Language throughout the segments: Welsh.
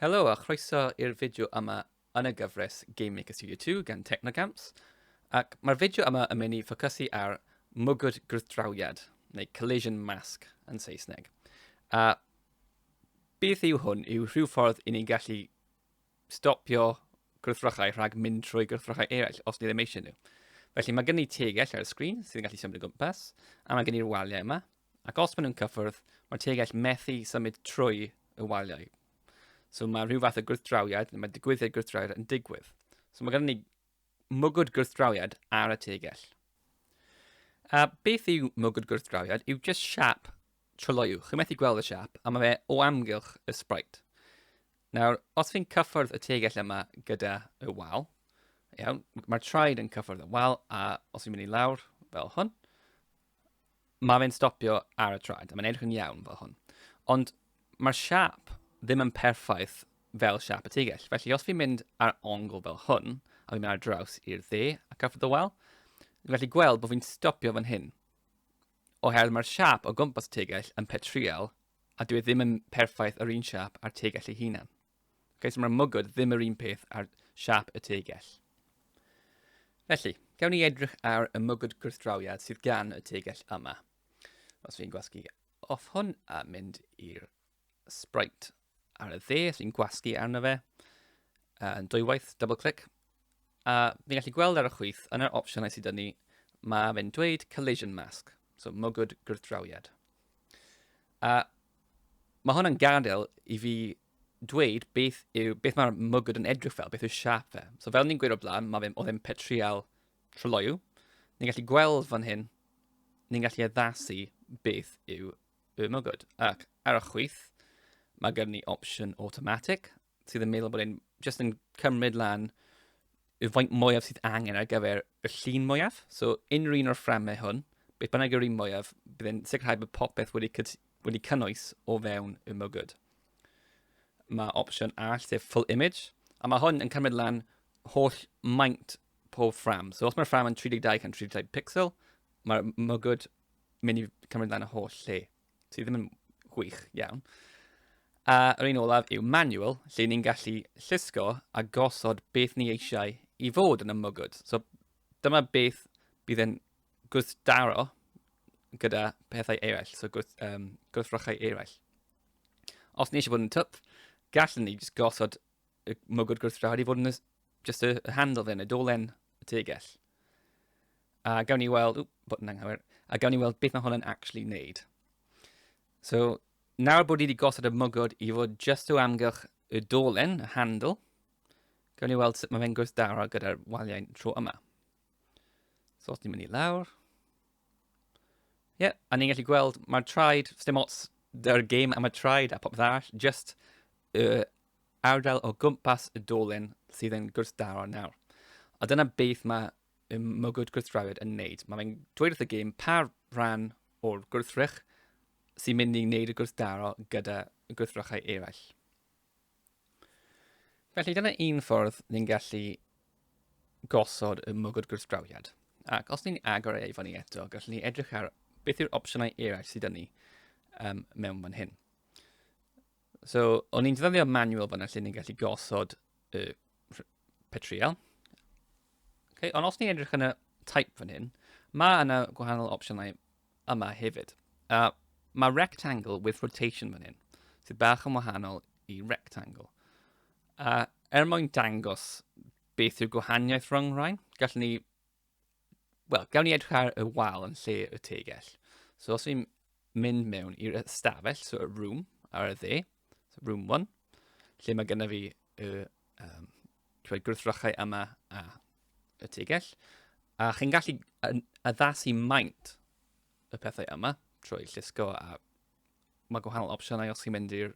Helo a chroeso i'r fideo yma yn y gyfres Game Maker Studio 2 gan Technogamps, ac mae'r fideo yma yn mynd i ffocysu ar mwgwd gwrthdrawiad, neu collision mask yn Saesneg. A beth yw hwn? Yw rhyw ffordd i ni gallu stopio gwrthrychau rhag mynd trwy gwrthrychau eraill os ni ddim eisiau nhw. Felly mae gen i tegell ar y sgrin sy'n gallu symud o gwmpas, a mae gen i'r waliau yma, ac os maen nhw'n cyffwrdd, mae tegell methu symud trwy y waliau. So mae rhyw fath o gwrthdrawiad, mae digwyddiad gwrthdrawiad yn digwydd. So mae gen i mwgwd gwrthdrawiad ar y tegell. A beth yw mwgwd gwrthdrawiad? Yw just siap Trylloyw, chi'n methu gweld y siap, a mae fe o amgylch y sprite. Nawr, os fi'n cyffwrdd y tegell yma gyda y wal, iawn, mae'r traed yn cyffwrdd y wal, a os fi'n mynd i lawr fel hwn, mae fe'n stopio ar y traed, a mae'n edrych yn iawn fel hwn. Ond mae'r siap ddim yn perffaith fel siap y tegell. Felly, os fi'n mynd ar ongl fel hwn, a fi'n mynd ar draws i'r dde ac after the well, fi'n gallu gweld bod fi'n stopio fan hyn. Oherwydd mae'r siâp o gwmpas y tegell yn petrïal, a dyw e ddim yn perffaith yr un siâp a'r tegell ei hunan. Okay, so mae'r mwgwd ddim yr un peth a'r siâp y tegell. Felly, gawn ni edrych ar y mwgwd gwrthdrawiad sydd gan y tegell yma. Os fi'n gwasgu off hwn a mynd i'r sprite ar y dde sy'n gwasgu arno fe yn uh, dwywaith, double click, a ni'n gallu gweld ar y chwyth yn yr opsiynau sydd ni, mae fe'n dweud collision mask, so mogwyd gwrthdrawiad. A mae hwn yn gadael i fi dweud beth, yw, beth mae'r mogwyd yn edrych fel, beth yw'r siap fe. So fel ni'n gweud o blaen, mae fe'n oedd e'n petrial troloiw. Ni'n gallu gweld fan hyn, ni'n gallu addasu beth yw Boom, oh good. Ac ar y chwith, mae gen ni opsiwn automatic, sydd yn meddwl bod e'n just yn cymryd lan y faint mwyaf sydd angen ar gyfer y llun mwyaf. So, unrhyw un o'r fframau hwn, beth bynnag yw'r un mwyaf, bydd e'n sicrhau bod popeth wedi, wedi cynnwys o fewn y mygwyd. Mae opsiwn all, sef full image, a mae hwn yn cymryd lan holl maint pob ffram. So, os mae'r ffram yn 32 gan 32 pixel, mae'r mygwyd mynd i cymryd lan y holl lle, sydd ddim yn gwych iawn. A yr un olaf yw manual, lle ni'n gallu llusgo a gosod beth ni eisiau i fod yn y mwgwd. So dyma beth bydd yn gwrthdaro gyda pethau eraill, so gwrth, um, gwrthrychau eraill. Os ni eisiau bod yn twp, gallwn ni jyst gosod y mwgwd gwrthdrad i fod yn y, just y, y handle fe, neu dolen y tegell. A gawn ni weld, ww, bod yn anghywir, a gawn ni weld beth mae hwn yn actually wneud. So, nawr bod ni wedi gosod y mwgwd i fod just o amgylch y dolen, y handle, gawn ni weld sut mae fe'n gwrthdaro gyda'r waliau tro yma. So os ni'n mynd i lawr, yeah, a ni'n gallu gweld mae'r traed, ddim ots dy'r game am y traed a popeth arall, just y uh, ardal o gwmpas y dolyn sydd yn gwrthdaro nawr. A dyna beth mae y mwgwd gwrthdrawiad yn wneud. Mae fe'n dweud wrth y gêm pa rhan o'r gwrthrych sy'n mynd i wneud y gwrthdaro gyda y gwrthrychau eraill. Felly dyna un ffordd ni'n gallu gosod y mwgwd gwrthdrawiad. Ac os ni'n agor ei fan ni eto, gallwn ni edrych ar beth yw'r opsiynau eraill sydd ni um, mewn fan hyn. So, o'n i'n defnyddio manual fanna lle ni'n gallu gosod y petriol. Okay, ond os ni'n edrych yn y type fan hyn, mae yna gwahanol opsiynau yma hefyd. Uh, mae rectangle with rotation fan hyn, sydd bach yn wahanol i rectangle. A er mwyn dangos beth yw'r gwahaniaeth rhwng rhain, gallwn ni Wel, gawn ni edrych ar y wal yn lle y tegell. So os ni'n mynd mewn i'r ystafell, so y room ar y dde, so room 1, lle mae gyda fi y um, gwrthrychau yma a y tegell, a chi'n gallu addasu maint y pethau yma trwy llusgo a mae gwahanol opsiynau os chi'n mynd i'r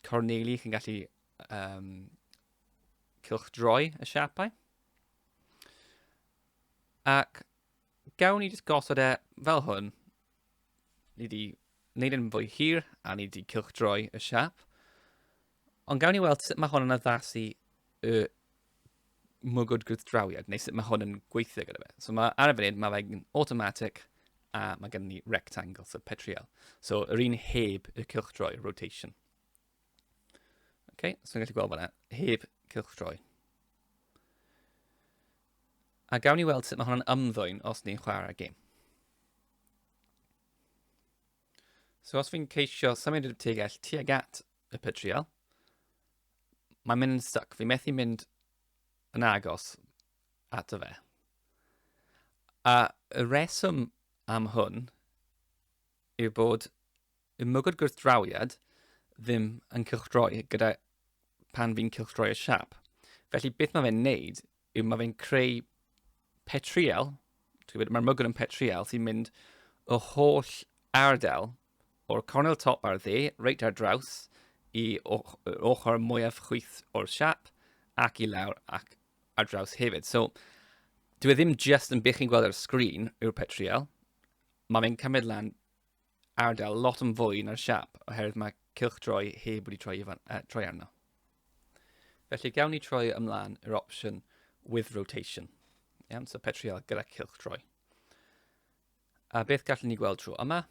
corneli, chi'n gallu um, cylchdroi y siapau. Ac gawn ni jyst gosod e fel hwn. Ni wedi wneud yn fwy hir a ni wedi cylchdroi y siap. Ond gawn ni weld sut mae hwn yn addasu y mwgwd gwrthdrawiad, neu sut mae hwn yn gweithio gyda fe. So mae ar y funud, mae fe'n automatic, a mae gen ni rectangle, so petriol. So yr un heb y cylchdroi, rotation. Okay, so ni'n gallu gweld fanna, heb cylch troi. A gawn ni weld sut mae hwnna'n ymddwyn os ni'n chwarae gêm. So os fi'n ceisio symud y tegell tuag at y petriol, mae'n mynd yn stuck. Fi'n methu mynd yn agos at y fe. A y reswm am hwn yw bod Yw'r mwgwd gwrthdrawiad ddim yn cylchdroi gyda pan fi'n cylchdroi y siap. Felly beth mae fe'n neud yw mae fe'n creu petriel, mae'r mwgwd yn petriel sy'n mynd o holl ardal o'r cornel top ar dde, reit ar draws, i ochr mwyaf chwyth o'r siap ac i lawr ac ar draws hefyd. So, dwi e ddim just yn bych chi'n gweld ar y sgrin yw'r petriel, mae fe'n cymryd lan ardal lot yn fwy na'r siap oherwydd mae cylch droi heb wedi troi, fan, uh, troi arno. Felly gawn ni troi ymlaen i'r opsiwn with rotation. Iawn, so petriol gyda cylch troi. A beth gallwn ni gweld trwy yma?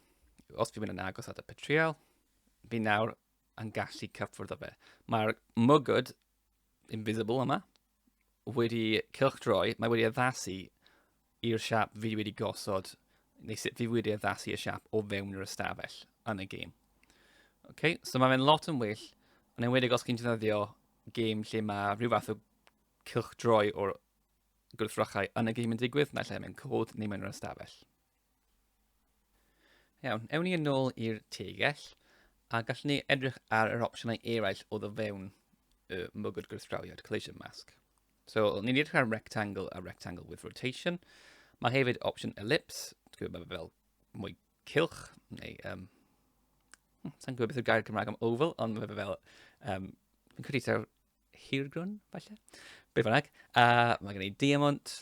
Os fi'n mynd yn agos at y petriol, fi nawr yn gallu cyffwrdd o fe. Mae'r mygod invisible yma, wedi cylchdroi, mae wedi addasu i'r siap fi wedi gosod, neu sut fi wedi addasu i'r siap o fewn yr ystafell yn y gêm. Okay? So mae fe'n lot yn well, yn enwedig os chi'n defnyddio gêm lle mae rhyw fath o cylchdroi o'r gwrthrychau yn y gêm yn digwydd, naill ai mewn cod neu mewn yr ystafell. Iawn, ewn ni yn ôl i'r tegell, a gallwn ni edrych ar yr opsiynau eraill o ddofewn y mwgwd gwrthdrawiad, collision mask. So, ni'n edrych ar rectangle a rectangle with rotation. Mae hefyd opsiwn ellipse, dwi'n gwybod fel mwy cilch, neu... Um, hmm, Sa'n gwybod beth yw'r gair Cymraeg am oval, ond mae fe fel... Um, fi'n credu ta'r hirgrwn, falle? Be bynnag. Uh, mae gen i diamond,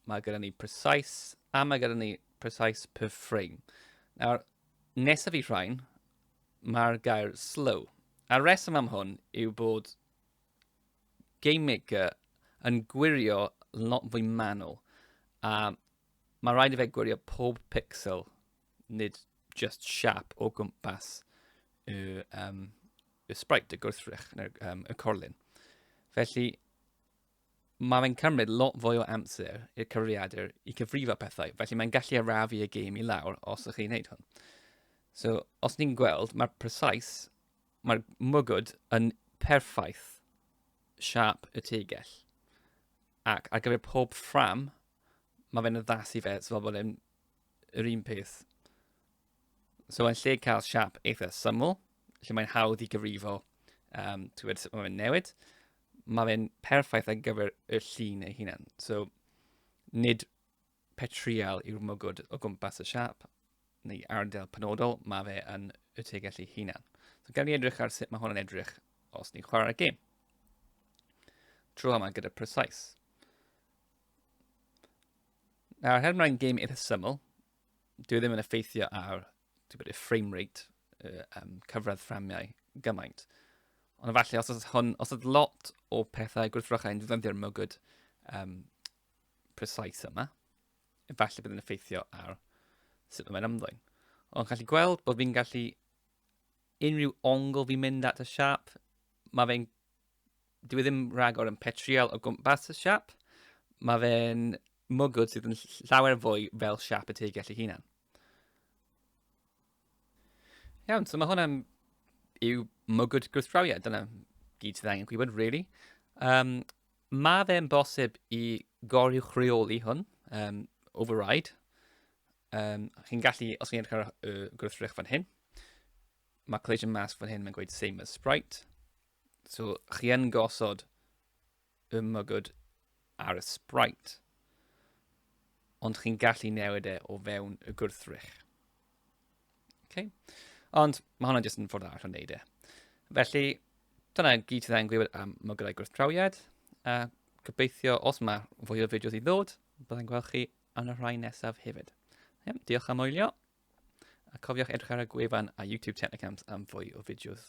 mae gyda ni precise, a mae gyda ni precise per frame. Nawr, nesaf i rhain, mae'r gair slow. A reswm am hwn yw bod Game Maker yn gwirio lot fwy manwl. A mae rhaid i fe gwirio pob pixel, nid just siap o gwmpas y um, y sprite, y gwrthrych, neu'r um, y corlun. Felly, mae fe'n cymryd lot fwy o amser i'r cyfriadur i cyfrifo pethau, felly mae'n gallu arafu y gêm i lawr os ydych chi'n neud hwn. So, os ni'n gweld, mae'r precise, mae'r mwgwd yn perffaith siap y tegell. Ac ar gyfer pob ffram, mae fe'n addasu fe, so fel bod e'n yr un peth. So yn lle cael siap eitha syml, lle mae'n hawdd i gyfrifo um, ti'n gwybod sut mae'n newid, mae fe'n perffaith ar gyfer y llun ei hunan. So, nid petrial yw'r mwgwd o gwmpas y siap neu ardal penodol, mae fe yn y tegell ei hunan. So, gael ni edrych ar sut mae hwn yn edrych os ni'n chwarae'r gêm. Tro yma gyda precise. Nawr, her mae'n game eitha syml, dwi e ddim yn effeithio ar bod, y frame rate, y um, cyfradd fframiau gymaint. Ond efallai, os oedd, hwn, os oedd lot o pethau gwrthfrychau yn ddefnyddio'r mygwyd um, precise yma, efallai bydd yn effeithio ar sut mae'n ymddwyn. Ond gallu gweld bod fi'n gallu unrhyw ongl fi'n mynd at y siap, mae fe'n dwi e ddim rhagor yn petriol o gwmpas y siap. Mae fe'n mwgwd sydd yn llawer fwy fel siap y teigell ei hunan. Iawn, so mae hwnna'n yw mwgwd gwrthdrawiad. Dyna gyd sydd angen gwybod, really. Um, mae fe'n bosib i goriwch rheoli hwn, um, override. Um, chi'n gallu, os chi'n edrych ar y gwrthrych fan hyn, mae collision mask fan hyn, mae'n gweud same as sprite. So, chi yn gosod y mygod ar y sprite, ond chi'n gallu newid e o fewn y gwrthrych. Okay. Ond mae hwnna jyst yn ffordd arall o wneud e. Felly, dyna gyd sydd angen gwybod am mygydau gwrthdrawiad. A gobeithio, os mae fwy o fideos i ddod, byddai'n gweld chi yn y rhai nesaf hefyd. Ie, diolch am wylio. A cofiwch edrych ar y gwefan a YouTube Technicamps am fwy o fideos.